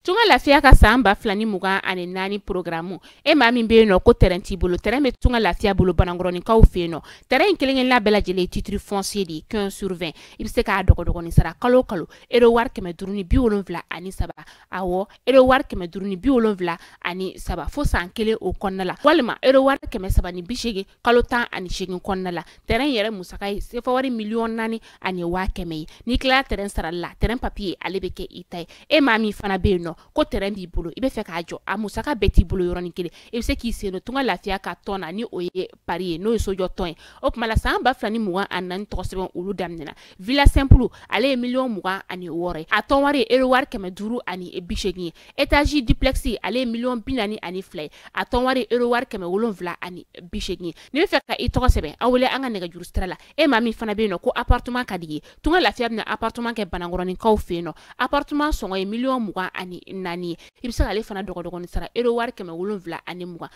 Tunga lafiya ka san ba fila ni mugan ani naani porogaramu e maa min bɛ yen nɔ ko tɛrɛn t'i bolo tɛrɛn bɛ tunga lafiya bolo banankɔrɔninkaw fɛ yen nɔ tɛrɛn in kelen-kelenna bɛɛ lajɛlen titiri fɔnsiye de ye quinze sur vingt i bɛ se k'a dɔgɔdɔgɔnin sara kalo o kalo ero wari kɛmɛ duuru ni bi wolonwula ani saba awɔ ero wari kɛmɛ duuru ni bi wolonwula ani saba fo san kelen o kɔnɔna la walima ero wari kɛmɛ saba ni bi seegin kalo tan ani seegin kɔnɔna la tɛrɛn yɛrɛ musaka ye sefa wari miliyɔn naani ani waa kɛmɛ ye n'i tilala tɛrɛn sarali la tɛrɛn papiye ale bɛ kɛ i ta ye e maa min fana bɛ yen nɔ ko tɛrɛn b'i bolo i bɛ fɛ k'a jɔ a musaka bɛɛ t'i bolo yɔrɔnin kelen i bɛ se k'i sen don tunga lafiya ka tɔn na ni o ye pari ye n'o ye sojɔ tɔn ye o tuma la san ba fila ni mugan ani naani tɔgɔ sɛbɛn olu daminɛna villa simple ale ye miliyɔn mugan ani wɔɔrɔ ye a tɔn wari ye euro wari kɛmɛ duuru ani bi seegin ye étage duplex ale ye miliyɔn bi naani ani fila ye a tɔn wari ye euro wari kɛmɛ wolonwula ani bi seegin ye n'i bɛ fɛ ka i tɔgɔ sɛbɛn an wele an ka nɛgɛjuru sira la e maa min fana bɛ yen nɔ ko appartement ka d'i ye tunga lafiya bɛna appartement kɛ banankɔrɔninkaw fɛ yen nɔ appartement sɔngɔ ye miliyɔn mugan ani naani ye i bɛ se k'ale fana dɔgɔdɔgɔnin sara euro wari kɛmɛ wolonwula ani mugan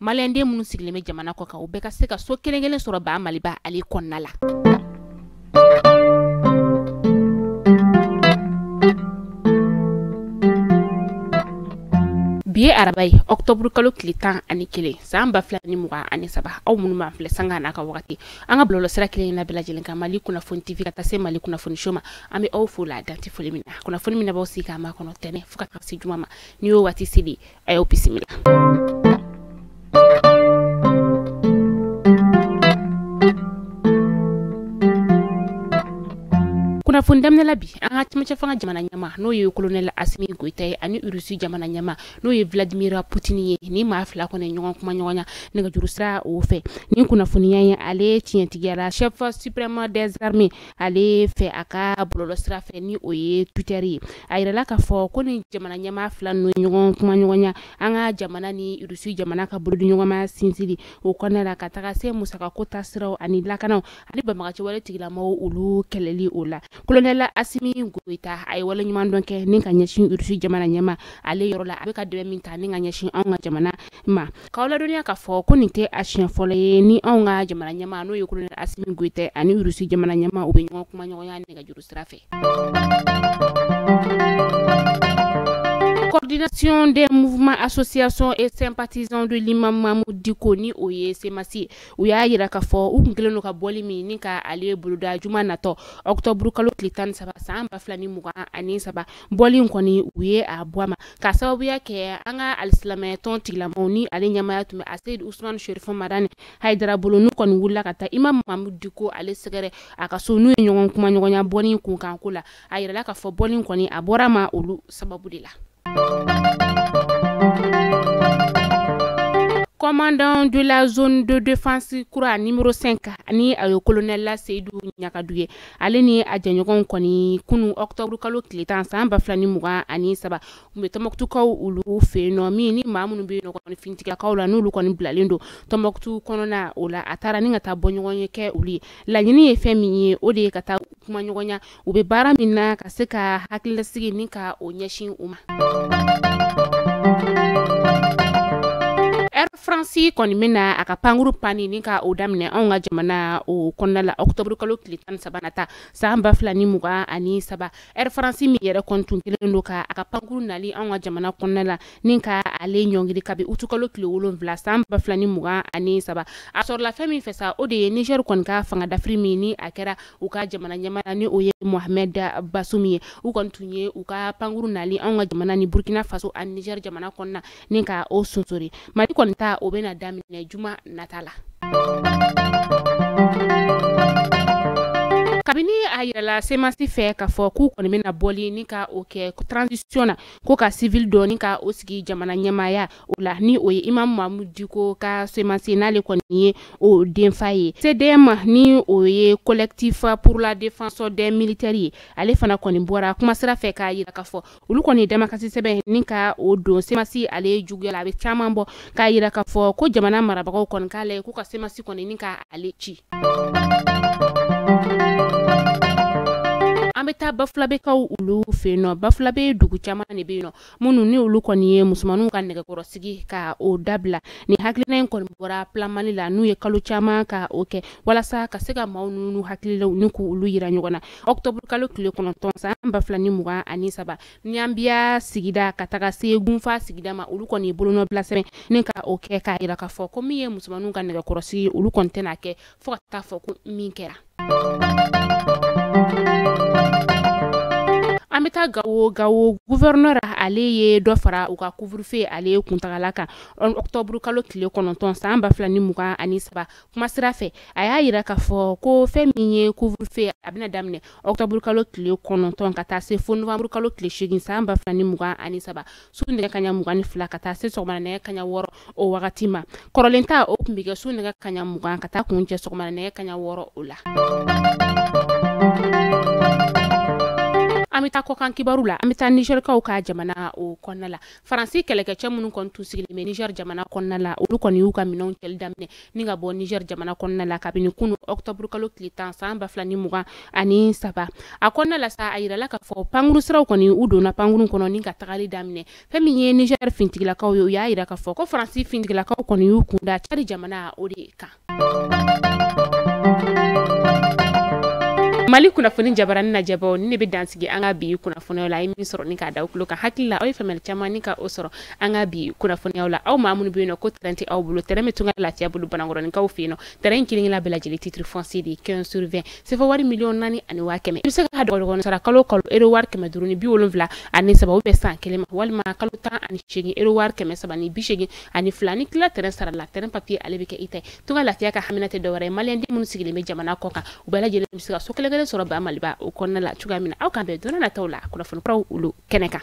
maliyɛnden minnu sigilen bɛ jamana kɔ kan u bɛɛ ka se ka so kelen kelen sɔrɔ ba maliba ale kɔnɔna la bi ye araba ye ɔktɔburu kalo tile tan ani kelen san ba fila ni mugan ani saba aw minnu b'an filɛ sanga n'a ka wagati an ka bɔlɔlɔ sira kelen na bɛɛ lajɛlen kan mali kunnafoni tv ka taa se mali kunnafoni show ma an bɛ aw fo la dan tɛ foli min na kunnafoni min n'aw b'aw sigi k'a makɔnɔ tɛnɛn fo ka taa se juma ma nin y'o waati seli a y'o bisimila kunnafoni daminɛla bi an ka cɛmancɛ fanga jamana ɲɛmaa n'o ye kolonɛli asimi goyita ye ani urusi jamana ɲɛmaa n'o ye vladimir putini ye nin maa fila kɔni ɲɔgɔn kumaɲɔgɔnya nɛgɛjuru sira o fɛ nin kunnafoniya ye ale tiɲɛtigiyala chef suprême des armées ale fɛ a ka bɔlɔlɔ sira fɛ ni o ye Twitter ye a yirala k'a fɔ ko nin jamana ɲɛmaa fila ninnu ye ɲɔgɔn kumaɲɔgɔnya an ka jamana ni Urusi jamana ka bolodiɲɔgɔnmaya sinsinli o kɔnɔna la ka taga se musakako ta siraw ani lakanaw ani banbaganci wale tigilamɔgɔw olu kɛlɛli o la kolonɛl Asimi Goyita a ye waleɲumandɔn kɛ ni ka ɲɛsin Irisi jamana ɲɛmaa ale yɔrɔ la a bɛ ka dɛmɛ min ta ni ka ɲɛsin anw ka jamana ma K'aw ladɔnniya k'a fɔ ko nin tɛ a siɲɛ fɔlɔ ye ni anw ka jamana ɲɛmaa n'o ye colonel Asimi Goyita ani Urusi jamana ɲɛmaa u bɛ ɲɔgɔn kumaɲɔgɔnya nɛgɛjuru sira fɛ. Coordination des mouvements, associations et sympathisants de l'imam Mahmoud Dicko ni o ye CMAS ye, u y'a yira k'a fɔ u tun kɛlen don ka bɔli min ni ka ale boloda juma natɔ octobre kalo tile 13 san 2023 bɔli in kɔni u ye a bɔ a ma ka sababuya kɛ an ka alisilamɛyatɔn tigilamaw ni ale ɲɛmaaya tun bɛ aseyidi usumani sherifu madani hayidara bolo n'u kɔni wulila ka taa imam mahamud diko ale sɛgɛrɛ a ka so n'u ye ɲɔgɔn kuma ɲɔgɔnya bɔli in kunkanko la a yirala k'a fɔ bɔli in kɔni a bɔra ma olu sababu de la commandant de la zone de défense kura numéro 5 ani a ye colonel la seyidu ɲagadu ye ale ni a jɛɲɔgɔnw kɔni kunu octobre kalo tile tan san ba fila ni mugan ani saba u bɛ tɔnbɔkutukaw olu fɛ yen nɔ min ni maa minnu bɛ yen nɔ kɔni finitigilakaw la n'olu kɔni bilalen don tɔnbɔkutu kɔnɔna o la a taara ni ka taa bɔ ɲɔgɔn ye kɛ olu ye laɲini ye fɛn min ye o de ye ka taa kuma ɲɔgɔnya u bɛ baara min na ka se ka hakililasigi ni ka o ɲɛsin u ma faransi kɔni bɛna a ka pankuru panni ni ka o daminɛ anw ka jamana o kɔnɔna la ɔkutɔburu kalo tile tan ni saba nata san ba fila ni mugan ani saba ɛri faransi min yɛrɛ kɔni tun kelen don ka a ka pankuru nali anw ka jamana kɔnɔna la ni ka ale ɲɔngiri kabi utukalo tile wolonwula san ba fila ni mugan ani saba a sɔrɔla fɛn min fɛ sa o de ye nizɛri kɔni ka fanga dafiri min ni a kɛra u ka jamana ɲɛmaa na ni o ye mohamɛd bazumi ye u kɔni tun ye u ka pankuru nali anw ka jamana ni burkina faso ani nizɛri jamana kɔnɔna ni ka o sonsori mali kɔni ta o bɛna daminɛ juma nata la kabini a yirala semasi fɛ k'a fɔ k'u kɔni bɛna bɔli ni ka o kɛ transition na ko ka civil dɔ ni ka o sigi jamana ɲɛmaaya o la ni o ye imam mahamud diko ka semasi ye n'ale kɔni ye o denfa ye cdm ni o ye collectif pour la défense des militaires ye ale fana kɔni bɔra kumasira fɛ k'a yira k'a fɔ olu kɔni damakasi sɛbɛn ni ka o don semasi ale juguya la a bɛ caman bɔ k'a yira k'a fɔ ko jamana marabagaw kɔni k'a lajɛ k'u ka semasi kɔni ni ka ale ci an bɛ taa bafulabekaw olu fɛ yen nɔ bafulabe dugu caman de bɛ yen nɔ minnu ni olu kɔni ye musomanninw ka nɛgɛkɔrɔsigi ka o dabila ni hakilina in kɔni bɔra plan mali la n'u ye kalo caman ka o kɛ walasa ka se ka maaw n'u hakililaw ni k'olu yira ɲɔgɔn na ɔkutɔburu kalo tile kɔnɔntɔn san ba fila ni mugan ani saba ɲanbiya sigida ka taga se gunfan sigida ma olu kɔni bolonɔbila sɛbɛn ni ka o kɛ k'a yira k'a fɔ ko min ye musomanninw ka nɛgɛkɔrɔsigi olu kɔni tɛna kɛ fo ka taa fɔ ko min kɛra an bɛ taa gawo gawo guvɛrɛnɛr ale ye dɔ fara u ka couvre-feu ale kuntagala kan ɔkutɔburu kalo tile kɔnɔntɔn san ba fila ni mugan ani saba kuma sira fɛ a y'a yira k'a fɔ ko fɛn min ye couvre-feu a bɛna daminɛ octobre kalo tile kɔnɔntɔn ka taa se fo novembre kalo tile seegin san ba fila ni mugan ani saba su nɛgɛ kaɲa mugan ni fila ka taa se sɔgɔmada nɛgɛ kaɲa wɔɔrɔ o wagati ma kɔrɔlen ta o tun bɛ kɛ su nɛgɛ kaɲa mugan ka taa kuncɛ sɔgɔmada nɛgɛ kaɲa wɔɔrɔ o la an bɛ taa kɔkan kibaru la an bɛ taa nizɛrikaw ka jamana o kɔnɔna la faransi kɛlɛkɛcɛ minnu kɔni tun sigilen bɛ niger jamana kɔnɔna la olu kɔni y'u ka minɛnw cɛli daminɛ ni ka bɔ niger jamana kɔnɔna la kabini kunu ɔktɔburu kalo tile tan san ba fila ni mugan ani saba a kɔnɔna la sa a yirala k'a fɔ pankuru siraw kɔni u donna pankurun kɔnɔ ni ka tagali daminɛ fɛn min ye niger fintigilakaw ye u y'a yira k'a fɔ ko faransi fintigilakaw kɔni y'u kunda cadi jamana o de kan mali kunnafoni jabarani lajɛbaaw ni ne bɛ dansigi an ka bi kunnafoniyaw la a ye min sɔrɔ ni k'a da aw tulo kan hakili la aw ye faamuyali caman ni ka o sɔrɔ an ka bi kunnafoniyaw la aw maa minnu bɛ yen nɔ ko tɛrɛn tɛ aw bolo tɛrɛn bɛ tunga lafiya bolo banankɔrɔninkaw fɛ yen nɔ tɛrɛn in kelen kelen bɛɛ lajɛlen titre foncier de ye 15 sur 20 sefa wari miliyɔn naani ani waa kɛmɛ i bɛ se k'a dɔgɔdɔgɔnin sara kalo kalo euro wari kɛmɛ duuru ni bi wolonwula ani saba u bɛ san kelen ma walima kalo tan ani seegin euro wari kɛmɛ saba ni bi seegin ani fila ni tila tɛrɛn sarala tɛrɛn papiye ale bɛ kɛ i ta ye tunga lafiya ka hamina tɛ dɔwɛrɛ ye maliyɛnden minnu sigilen bɛ jamana kɔ kan u bɛɛ lajɛlen bɛ se ka so kelen kelen sɔrɔ ba maliba o kɔnɔna la cogoya min na aw k'an bɛn don na nataw la kunnafoni kuraw olu kɛnɛ kan